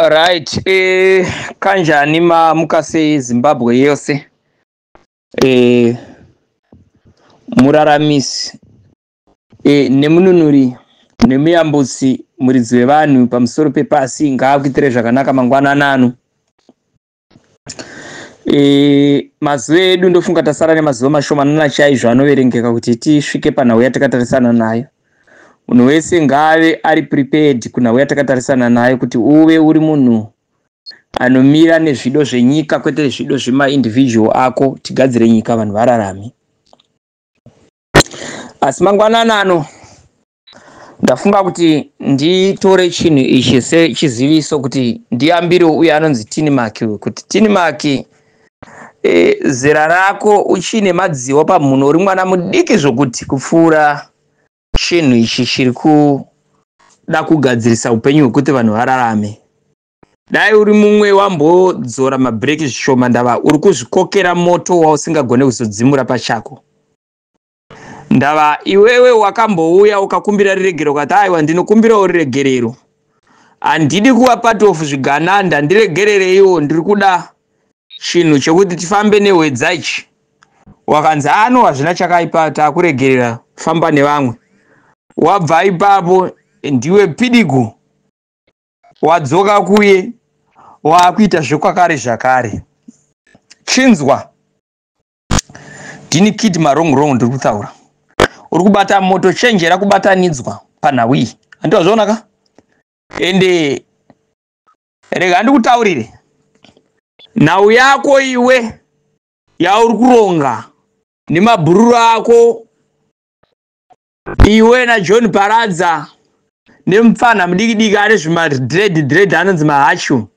right eh, kanjani mamuka sezimbabwe yose eh, muraramisi eh, nemununuri nemuyambusi muridzi wevanhu pamusoro pepasi ngaakuitire zvakanaka mangwananano E, mazuva edu ndofunga tasara nemazuva mashomanana chaizvo anoverengeka kuti tisvike panhau yatakatarisana nayo munhu wese ngaave ari prepared kunhau yatakatarisana nayo kuti uve uri munhu anomira nezvido zvenyika kwete zvido zvemaindividual ako tigadzire nyika vanhu vararame asi mangwanana ano ndafunga kuti nditore chinhu ichi sechiziviso kuti ndiyambirewo uye anonzi tinimaki uyu kuti tinimaki e, zera rako uchine madziwa pamhuno uri mwana mudiki zvokuti kupfuura chinhu ichi chiri kuda kugadzirisa upenyu hwekuti vanhu vararame dai uri mumwe wambodzora mabhireki zvishoma ndava uri kuzvikokera moto wausingagone kuzodzimura pachako Ndava iwewe wakambouya ukakumbira riregerero ukati aiwa ndinokumbirawo riregerero handidi kuva part of zvigananda ndiregerereiwo ndiri kuda chinhu chekuti tifambe nehwedza ichi wakanzi ano hazvina chakaipa takuregerera famba nevamwe wabva ipapo ndiwe pidigu wadzoka kuye waakuita zvekwakare zvakare chinzwa Dini kid marong rong ndiri kutaura. Uri kubata moto chenjera kubatanidzwa panhau iyi. Handi wazviona ka? Ende rega ndikutaurire. Nhau yako iwe yauri kuronga nemabhururu ako iwe na john paradza nemupfanha mudiki diki ane zvima dread dread anonzi mahachu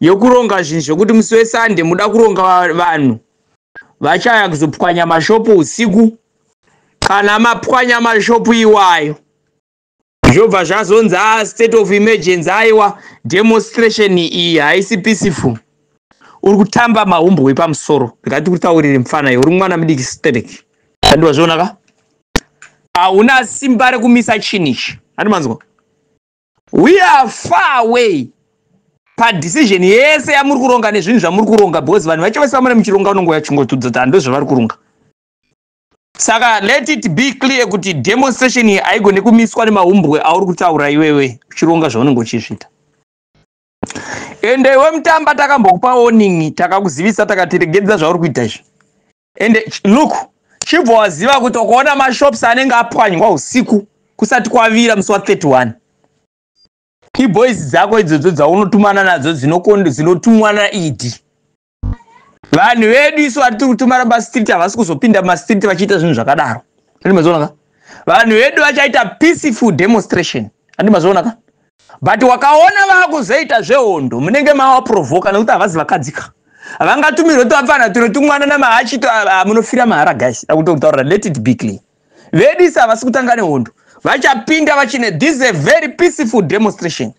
yokuronga zvinhu zvekuti musi wesande muda kuronga vanhu vachaya kuzopwanya mashopu usiku kana mapwanya mashopu iwayo zvobva zvazonzi a ah, state of emergency aiwa demonstration iyi haisi peaceful uri kutamba mahumbwe pamusoro ngati kutaurire mufana yo uri mwana mudiki sterek andiwazvionaka hauna simba rekumisa chinhu ichi handi manzwa we are far away padecision yese yamuri kuronga nezvinhu zvamuri kuronga because vanhu vacho vese vamune muchironga unongoya chingotudza kuti hando zvavari kuronga saka let it be clear kuti demonstration iyi haigone kumiswa nemahumbwe auri kutaura iwewe uchironga zvaunenge uchizvita ende iwe mutamba takambokupa warning takakuzivisa takatiregedza zvauri kuita izvi and look chibva waziva kuti ukaona mashops anenge apwanywa usiku kusati kwavira musi wa 31 iboys dzako idzodzo dzaunotumana nadzo dzinotumwa naed vanhu vedu isu vatiri kutumana mastreet havasi kuzopinda mumastreet vachiita zvinhu zvakadaro andimazionaka vanhu vedu vachaita peaceful demonstration andimazionaka but wakaona vakuzoita zvehondo munenge mavaprovoka nekuti havazi vakadzika vangatumirwe tuvapfana tuno tumwana namahachi ah, munofira mahara guys akutokutaurira let it be clear vedisa havasi kutanga nehondo vachapinda vachine this a very peaceful demonstration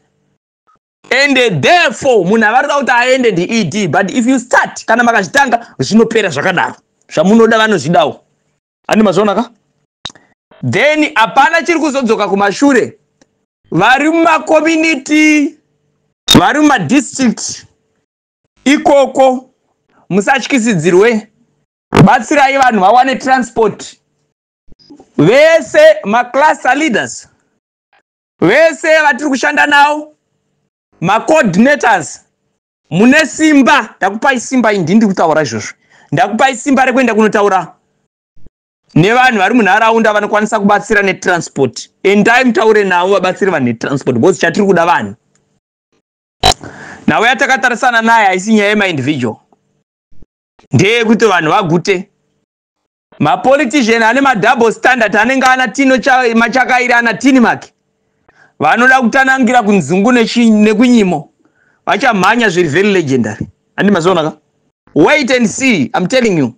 and therefore munhu avarida kuti aende ndied but if you start kana makazvitanga zvinopera zvakadaro zvamunoda vanozvidawo ani mazviona ka then hapana chiri kuzodzoka kumashure vari mumakomuniti vari mumadistrict ikoko musatyisidzirwe batsirai vanhu vawane transport vese macluster leaders vese vatiri kushanda nawo macoordinators mune simba ndakupai simba indi ndiri kutaura izvozvo ndakupai simba rekuenda kunotaura nevanhu vari munharaunda vanokwanisa kubatsira netransport endai mutaure navo vabatsiri vanhu netransport because chatiri kuda vanhu nhau yatakatarisana naye haisi nyaya yemaindividual ndeyekuti vanhu vagute mapolitician ane madouble standard anenge ana tino machakairi ana tini make vanoda kutanangira kunzungu nekunyimo vachamhanya zviri very legendary andi mazionaka wait and see im telling you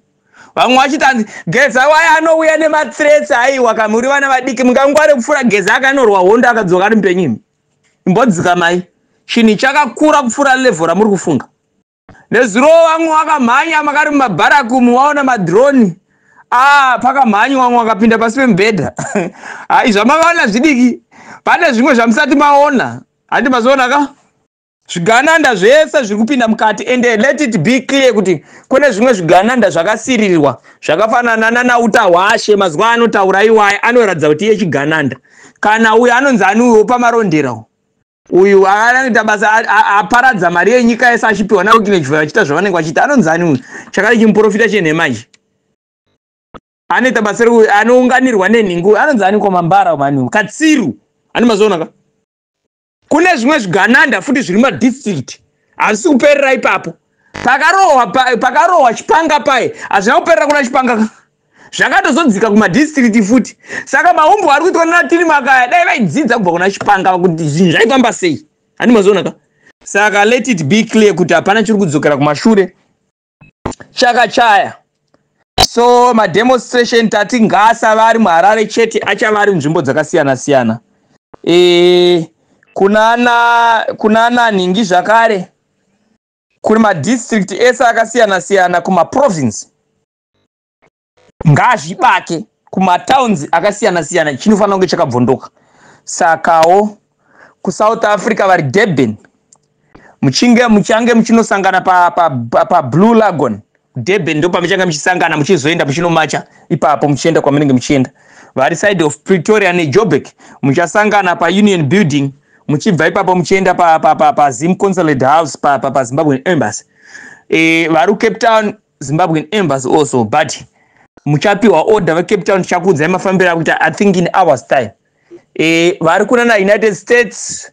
vamwe vachiti anzi geza waye anouya nemathreats aiwa ka muri vana vadiki mungangware kupfuura geza akanorwa hondo akadzoka ari mupenyimi imbodzika mai chinhu chakakura kupfuura levho ramuri kufunga Nezuro wangu wakamhanya makari mumabharakumu waona madroni ah, pakamhanyi wangu wakapinda pasi pemubhedha hai zvamakaona zvidiki pane zvimwe zvamusati maona handi mazoona ka zvigananda zvese zviri kupinda mukati and let it be clear kuti kune zvimwe zvigananda zvakasiririrwa zvakafanana nanauta hwashe mazuva anotaura iwaye anoratidza kuti iye chigananda kana uyo anonzi aniuyo pamarondera uyu anoita basa aparadza mari yenyika yese achipiwa navo kinechivai vachiita zvavanenge vachiita anonzi ani uyu chakare chimuprofita chenhema ichi anoita basa rekuti anounganirwa nenhingu anonzi ani komambara mani katsiru ani mazoonaka kune zvimwe zvigananda futi zviri madistrict hazvisi kuperera ipapo pakarohwa pakarohwa chipanga paye hazvina kuperera kuna chipanga zvakatozodzika kumadistriti futi saka maumbwa ari kuitwa nana tiri makaya dai vaidzidza kubva kuna chipanga kuti zvinhu zvaifamba sei handi mazoonaka saka let it be clear kuti hapana chiri kudzokera kumashure chakachaya so mademonstration tati ngaasava ari muharare chete achava ari nzvimbo dzakasiyana siyana e, kunana kunana nhingi zvakare kune madistrict ese akasiyana siyana kumaprovince ngazvibake kumatowns akasiyana siyana chinofanira kunge chakabvondoka sakawo kusouth africa vari durban muchinge muchange muchinosangana pablue pa, pa, pa lagon durban ndo pamuchange muchisangana muchizoenda muchinomacha ipapo muchienda kwamunenge muchienda vari side of pretoria nejobek muchasangana paunion building muchibva ipapo muchienda pazim pa, pa, pa, pa consulate house pazimbabwe pa, pa embassy e, vari cape town Zimbabwean embassy also but muchapiwa order vacape town tichakuudzai mafambiro akuita i think in hours time e, vari kunana united states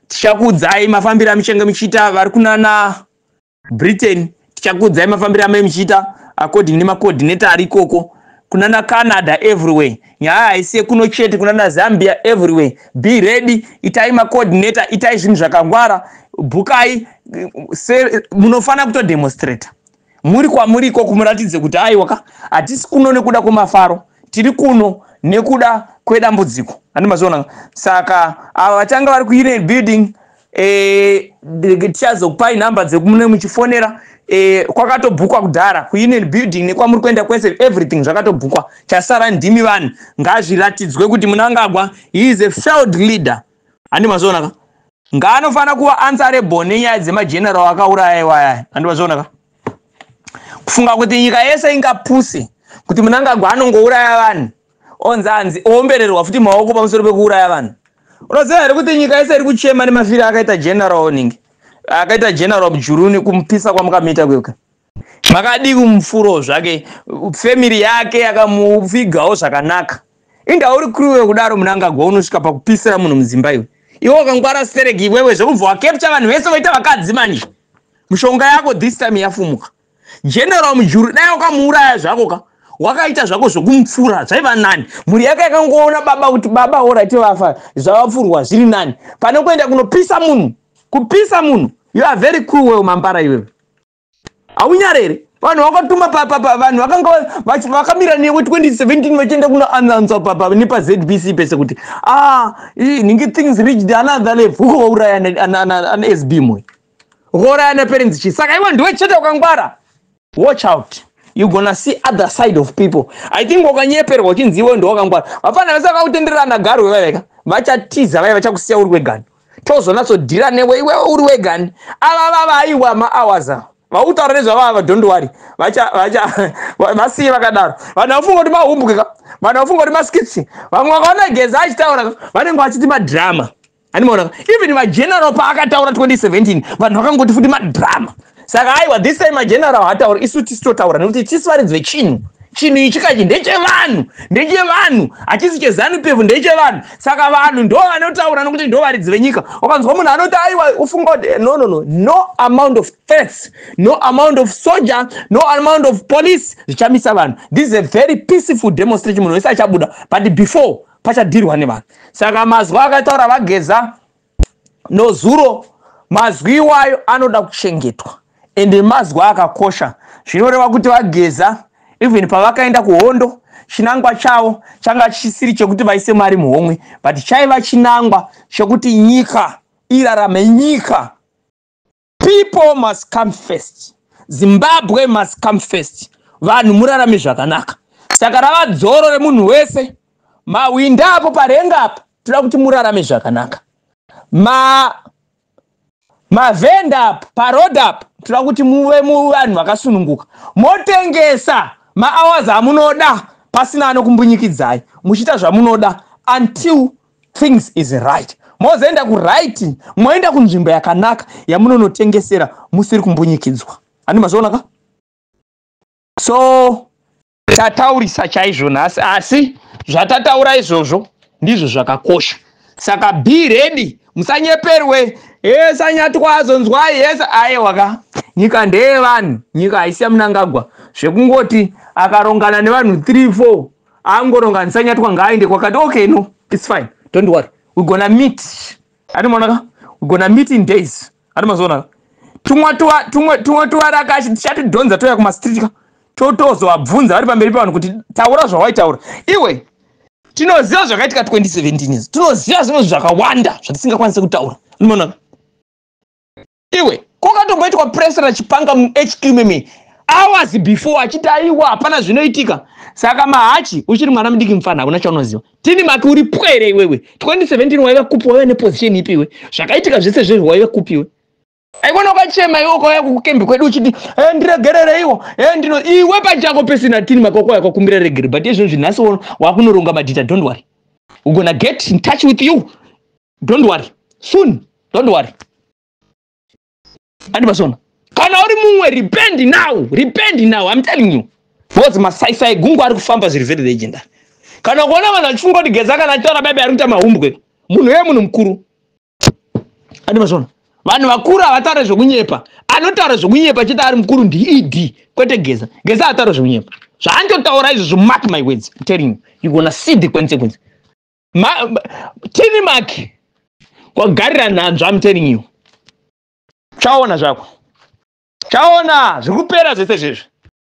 tichakuudzai mafambiro amuchenge muchiita vari kunana britain tichakuudzai mafambiro amai muchiita according nemacoordinator ari ikoko kunana canada everywhere nyaya haisi yekuno chete kuna nazambia everywhere be ready itai macoordinator itai zvinhu zvakangwara bukai munofanira kutodemonstrata muri kwamuri ikoko muratidze kuti aiwaka hatisi kuno nekuda kwemafaro tiri kuno nekuda kwedambudziko andimazviona saka ava vatanga vari kuunion building eh, tichazokupai number dzekumune muchifonera eh, kwakatobhukwa kudhara kuunion building nekwamuri kuenda kwese everything zvakatobhukwa chasara ndimi vanhu ngazviratidzwe kuti munangagwa he is a failed leader handi mazvionaka ngaanofanira kuva answerable nenyaya dzemageneral akauraya iwaya handi mazvionaka kufunga kuti nyika yese ingapuse kuti munangagwa anongouraya vanhu onzi anzi oombererwa futi maoko pamusoro pekuuraya vanhu unoziva here kuti nyika yese iri kuchema nemafiri akaita general oning akaita general mujuruni kumupisa kwamukamita kweka makadii kumufuro zvake family yake yakamuvigawo zvakanaka inda uri kruwe kudaro munangagwa unosvika pakupisira munhu mudzimba iwe iwe wakangwara stereki iwewe zvekubva wakepcha vanhu vese voita vakadzi manje mushonga yako this time yafumuka General Mujuru dai wakamuuraya zvako ka wakaita zvako zvekumupfura zvaiva nani mhuri yake yakangoona baba kuti baba orati vafa zvavapfurwa zviri nani pane kuenda kunopisa munhu kupisa munhu you are very cool well mampara iwewe haunyare here vanhu vakatuma papapa vanhu vakanga vakamira newe 2017 vachienda kunoanansa papa nepazbc pese kuti a ah, ningi things reached another level uko vauraya anasb moyo rouraya neperenzi chii saka iwe ndiwe chete ukangwara watch out you gonna see other side of people i think wakanyeperwa uchinzi iwe ndiwakangwara vafana vese vakakutenderana garwe vaiveka vachatiza vaiva vachakusiya uri wegani tozonatsodhira newe iwe uri wegani ava vava aiwa mahours ava vakutaura nezvavava don't worry vasiye vakadaro vanhu vafunga kuti mahumbwe ka vanhu vafunga kuti maskitsi vamwe vakaona geza achitaura vanenge vachiti madrama animaona even mageneral paakataura 2017 vanhu vakangoti futi madrama saka aiwa this time mageneral hataura isu tisi totaura nekuti tisi varidzi vechinhu chinhu ichi kachi ndechevanhu ndechevanhu hachisi chezanu pevu ndechevanhu saka vanhu ndo vanotaura nokuti ndo varidzi venyika ukanzwa munhu anoti aiwa ufunga kuti eh, no no no no amount of threats no amount of soldier no amount of police zvichamisa vanhu this is a very peaceful demonstration munhu wese achabuda but before pachadhirwa nevanhu saka mazwi akataura vageza nozuro mazwi iwayo anoda kuchengetwa ende mazwi akakosha zvinoreva kuti vageza even pavakaenda kuhondo chinangwa chavo changa chisiri chekuti vaise mari muhomwe but chaiva chinangwa chekuti nyika irarame nyika People must come first. Zimbabwe must come first. Vanhu murarame zvakanaka. Saka rava dzoro remunhu wese. Mahwinda apo parenga apa toda kuti murarame zvakanaka. Ma mavhenda apa paroad apa toda kuti muve muvanhu vakasununguka. Motengesa mahours amunoda pasina anokumbunyikidzai. Muchiita zvamunoda until things is right mozoenda kuright moenda kunzvimbo yakanaka yamunonotengesera musiri kumbunyikidzwa handi mazviona ka so tataurisa chaizvo nhasi asi zvatataura izvozvo ndizvo zvakakosha saka be ready musanyeperwe esanyatwa azonzwai ese aiwa ka nyika ndeyevanhu nyika haisi yamunangagwa zvekungoti akarongana nevanhu 3 4 angoronga handisanyatwa ngaaende kwakati okay no its fine don't worry we gonna meet andimaonaka we gonna meet in days andimazoonaka tumwa tuwa tumwe tumwe tuwaraka tichatiddhonza toya kumastreet ka totozovabvunza vari pamberi pevanhu kuti taura zvawaitaura iwe tinoziva zvakaitika 2017 tinoziva zvimwe zvakawanda zvatisingakwanise kutaura andimaonaka iwe kwakatomboitwa pressure achipanga muhq meme hours before achiti aiwa hapana zvinoitika saka mahachi uchiri mwana mudiki mufana hakuna chaunoziva tini maki uri pwere iwewe 2017 waiva kupi waiva neposition ipi iwe zvakaitika zvese zvezvo waiva kupi iwe aikona ukachema iwe ukauya kukukembi kwedu uchiti e eh, ndiregerereiwo e eh, ndino iwe pachako pesina tini maki wakuuya kwakumbira regere but izvozvi nhasi wakunoronga madhita don't worry we're gonna get in touch with you don't worry soon don't worry andi pasona kana uri mumwe repend now repend now i'm telling you because masaisai gungu ari kufamba zviri very legendary kana kuona vanhu vachifunga kuti geza kana achitaura baibai ari kuita mahumbwe munhu ye munhu mukuru andi pasona vanhu vakuru havataure zvekunyepa anotaura zvekunyepa chete ari mukuru ndied e kwete geza geza hataura zvekunyepa zvaandotaura izvozvo mark my words i'm telling you you gonna see the consequence tini maki wagarira nhanzva am telling you chaona zvako chaona zviri kupera zvese zvezvi